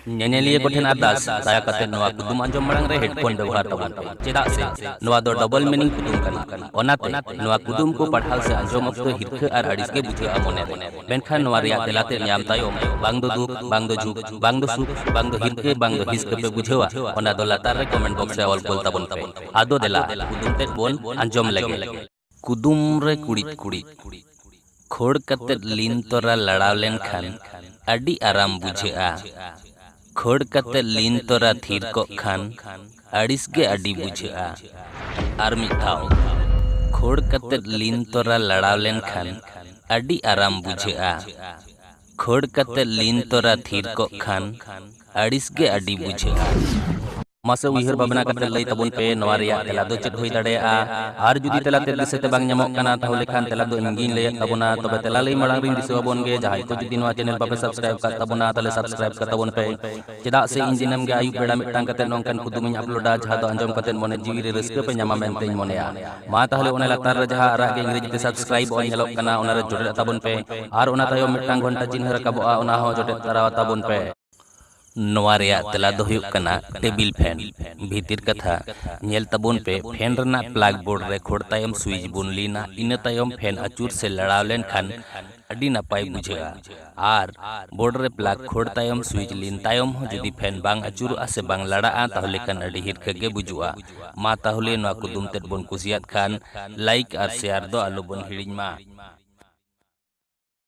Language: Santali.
ᱧᱮᱧᱮᱞᱤᱭᱟᱹ ᱠᱚᱴᱷᱮᱱ ᱟᱨᱫᱟᱥ ᱫᱟᱭᱟ ᱠᱟᱛᱮ ᱱᱚᱣᱟ ᱠᱩᱫᱩᱢ ᱟᱸᱡᱚᱢ ᱢᱟᱲᱟᱝ ᱨᱮ ᱦᱮᱰᱯᱷᱳᱱ ᱵᱮᱵᱚᱦᱟᱨ ᱛᱟᱵᱚᱱ ᱯᱮ ᱪᱮᱫᱟᱜ ᱥᱮ ᱱᱚᱣᱟ ᱫᱚ ᱰᱚᱵᱚᱞ ᱢᱤᱱᱤᱝ ᱠᱩᱫᱩᱢ ᱠᱟᱱᱟ ᱚᱱᱟᱛᱮ ᱱᱚᱣᱟ ᱠᱩᱫᱩᱢ ᱠᱚ ᱯᱟᱲᱦᱟᱣ ᱥᱮ ᱟᱸᱡᱚᱢ ᱚᱠᱛᱚ ᱦᱤᱨᱠᱷᱟᱹ ᱟᱨ ᱟᱹᱲᱤᱥ ᱜᱮ ᱵᱩᱡᱷᱟᱹᱜᱼᱟ ᱢᱚᱱᱮ ᱨᱮ ᱢᱮᱱᱠᱷᱟᱱ ᱱᱚᱣᱟ ᱨᱮᱭᱟᱜ ᱛᱮᱞᱟ ᱛᱮᱫ ᱧᱟᱢ ᱛᱟᱭᱚᱢ ᱵᱟᱝ ᱫᱚ ᱫᱩᱠ, ᱵᱟᱝ ᱫᱚ ᱡᱷᱩᱠ, ᱵᱟᱝ ᱫᱚ ᱥᱩᱠ, ᱵᱟᱝ ᱫᱚ ᱦᱤᱨᱠᱟᱹ, ᱵᱟᱝ ᱫᱚ ᱦᱤᱥᱠᱟᱹ ᱯᱮ ᱵᱩᱡᱷᱟᱹᱣᱟ ᱚᱱᱟ ᱫᱚ ᱞᱟᱛᱟᱨ ᱨᱮ ᱠᱚᱢᱮᱱᱴ ᱵᱚᱠᱥ ᱨᱮ ᱚᱞ ᱠᱩᱞ ᱛᱟᱵᱚᱱ ᱯᱮ᱾ ᱟᱫᱚ ᱫᱮᱞᱟ ᱠᱩᱫᱩᱢ ᱛᱮᱫ ᱵᱚᱱ ᱟᱸᱡᱚᱢ ᱞᱮᱜᱮ᱾ ᱠᱩᱫᱩᱢ ᱨᱮ ᱠᱩᱲᱤᱫ ᱠᱩᱲᱤᱫ᱾ ᱠᱷᱳᱲ ᱠᱟᱛᱮ ᱞᱤᱱ ᱛᱚᱨᱟ ᱞᱟᱲᱟᱣ ᱞᱮᱱᱠᱷᱟᱱ ᱟᱹᱰᱤ ᱟᱨᱟᱢ ᱵᱩᱡᱷᱟᱹᱜᱼᱟ᱾ ᱠᱷᱟᱹᱲ ᱠᱟᱛᱮ ᱞᱤᱱ ᱛᱚᱨᱟ ᱛᱷᱤᱨ ᱠᱚᱜ ᱠᱷᱟᱱ ᱟᱹᱲᱤᱥ ᱜᱮ ᱟᱹᱰᱤ ᱵᱩᱡᱷᱟᱹᱜᱼᱟ ᱟᱨ ᱢᱤᱫ ᱫᱷᱟᱣ ᱠᱷᱟᱹᱲ ᱠᱟᱛᱮ ᱞᱤᱱ ᱛᱚᱨᱟ ᱞᱟᱲᱟᱣ ᱞᱮᱱ ᱠᱷᱟᱱ ᱟᱹᱰᱤ ᱟᱨᱟᱢ ᱵᱩᱡᱷᱟᱹᱜᱼᱟ ᱠᱷᱟᱹᱲ ᱠᱟᱛᱮ ᱞᱤᱱ ᱛᱚᱨᱟ ᱛᱷᱤᱨ ᱠᱚᱜ ᱠᱷᱟᱱ ᱟᱹᱲᱤᱥ ᱜᱮ ᱟᱹᱰᱤ ᱵᱩᱡᱷᱟᱹᱜᱼᱟ ᱢᱟᱥᱮ ᱩᱭᱦᱟᱹᱨ ᱵᱷᱟᱵᱽᱱᱟ ᱠᱟᱛᱮ ᱞᱟᱹᱭ ᱛᱟᱵᱚᱱ ᱯᱮ ᱱᱚᱣᱟ ᱨᱮᱭᱟᱜ ᱛᱮᱞᱟ ᱫᱚ ᱪᱮᱫ ᱦᱩᱭ ᱫᱟᱲᱮᱭᱟᱜᱼᱟ ᱟᱨ ᱡᱩᱫᱤ ᱛᱮᱞᱟ ᱛᱮ ᱫᱤᱥᱟᱹ ᱛᱮ ᱵᱟᱝ ᱧᱟᱢᱚᱜ ᱠᱟᱱᱟ ᱛᱟᱦᱚᱞᱮ ᱠᱷᱟᱱ ᱛᱮᱞᱟ ᱫᱚ ᱤᱧᱜᱤᱧ ᱞᱟᱹᱭᱮᱫ ᱛᱟᱵᱚᱱᱟ ᱛᱚᱵᱮ ᱛᱮᱞᱟ ᱞᱟᱹᱭ ᱢᱟᱲᱟᱝ ᱨᱤᱧ ᱫᱤᱥᱟᱹ ᱟᱵᱚᱱ ᱜᱮ ᱡᱟᱦᱟᱸᱭ ᱠᱚ ᱡᱩᱫᱤ ᱱᱚᱣᱟ ᱪᱮᱱᱮᱞ ᱵᱟᱯᱮ ᱥᱟᱵᱥᱠᱨᱟᱭᱤᱵ ᱠᱟᱜ ᱛᱟᱵᱚᱱᱟ ᱛᱟᱦᱚᱞᱮ ᱥᱟᱵᱥᱠᱨᱟᱭᱤᱵ ᱠᱟᱜ ᱛᱟᱵᱚᱱ ᱯᱮ ᱪᱮᱫᱟᱜ ᱥᱮ ᱤᱧ ᱫᱤᱱᱟᱹᱢ ᱜᱮ ᱟᱹᱭᱩᱵ ᱵᱮᱲᱟ ᱢᱤᱫᱴᱟᱝ ᱠᱟᱛᱮ ᱱᱚᱝᱠᱟᱱ ᱠᱩᱫᱩᱢᱤᱧ ᱟᱯᱞᱳᱰᱟ ᱡᱟᱦᱟᱸ ᱫᱚ ᱟᱸᱡᱚᱢ ᱠᱟᱛᱮ ᱢᱚᱱᱮ ᱡᱤᱣᱤ ᱨᱮ ᱨᱟᱹᱥᱠᱟᱹ ᱯᱮ ᱧᱟᱢᱟ ᱢᱮᱱᱛᱮᱧ ᱢᱚᱱᱮᱭᱟ ᱢᱟ ᱛᱟᱦᱚᱞᱮ ᱚᱱᱟ ᱞᱟᱛᱟᱨ ᱨᱮ ᱡᱟᱦᱟᱸ ᱟᱨᱟᱜ ᱜᱮ ᱤᱝᱨᱮᱡᱤ ᱛᱮ ᱥᱟᱵᱥᱠᱨᱟᱭᱤᱵ ᱚᱞ ᱧᱮᱞᱚᱜ ᱠᱟᱱᱟ ᱚᱱᱟ ᱨᱮ ᱡᱚᱴᱮᱫ ᱛᱟᱵᱚᱱ ᱯᱮ ᱟᱨ ᱚᱱᱟ ᱛᱟᱭᱚᱢ ᱢᱤᱫᱴᱟᱝ ᱜᱷᱚᱱᱴᱟ ᱪᱤᱱᱦᱟᱹ ᱨᱟᱠᱟᱵᱚᱜᱼᱟ ᱚᱱᱟ ᱦᱚᱸ ᱡᱚᱴᱮᱫ ᱛᱟᱨᱟ ᱛᱟᱵᱚᱱ ᱯᱮ ᱱᱚᱣᱟ ᱨᱮᱭᱟᱜ ᱛᱮᱞᱟ ᱫᱚ ᱦᱩᱭᱩᱜ ᱠᱟᱱᱟ ᱴᱮᱵᱤᱞ ᱯᱷᱮᱱ᱾ ᱵᱷᱤᱛᱤᱨ ᱠᱟᱛᱷᱟ, ᱧᱮᱞ ᱛᱟᱵᱚᱱ ᱯᱮ ᱯᱷᱮᱱ ᱨᱮᱱᱟᱜ ᱯᱞᱟᱜᱽ ᱵᱳᱨᱰ ᱨᱮ ᱠᱷᱳᱲ ᱛᱟᱭᱚᱢ ᱥᱩᱭᱤᱪ ᱵᱚᱱ ᱞᱤᱱᱟ ᱤᱱᱟᱹ ᱛᱟᱭᱚᱢ ᱯᱷᱮᱱ ᱟᱹᱪᱩᱨ ᱥᱮ ᱞᱟᱲᱟᱣ ᱞᱮᱱ ᱠᱷᱟᱱ ᱟᱹᱰᱤ ᱱᱟᱯᱟᱭ ᱵᱩᱡᱷᱟᱹᱜᱼᱟ ᱟᱨ ᱵᱳᱨᱰ ᱨᱮ ᱯᱞᱟᱜᱽ ᱠᱷᱳᱲ ᱛᱟᱭᱚᱢ ᱥᱩᱭᱤᱪ ᱞᱤᱱ ᱛᱟᱭᱚᱢ ᱦᱚᱸ ᱡᱩᱫᱤ ᱯᱷᱮᱱ ᱵᱟᱝ ᱟᱹᱪᱩᱨᱚᱜᱼᱟ ᱥᱮ ᱵᱟᱝ ᱞᱟᱲᱟᱜᱼᱟ ᱛᱟᱦᱚᱞᱮ ᱠᱷᱟᱱ ᱟᱹᱰᱤ ᱦᱤᱨᱠᱷᱟᱹ ᱜᱮ ᱵᱩᱡᱩᱜᱼᱟ᱾ ᱢᱟ ᱛᱟᱦᱚᱞᱮ ᱱᱚᱣᱟ ᱠᱩᱫᱩᱢ ᱛᱮᱫ ᱵᱚᱱ ᱠᱩᱥᱤᱭᱟᱫ ᱠᱷᱟᱱ ᱞᱟᱭᱤᱠ ᱟᱨ ᱥᱮᱭᱟᱨ ᱫᱚ ᱟᱞᱚ ᱵᱚᱱ ᱦᱤᱲᱤᱧ ᱢᱟ᱾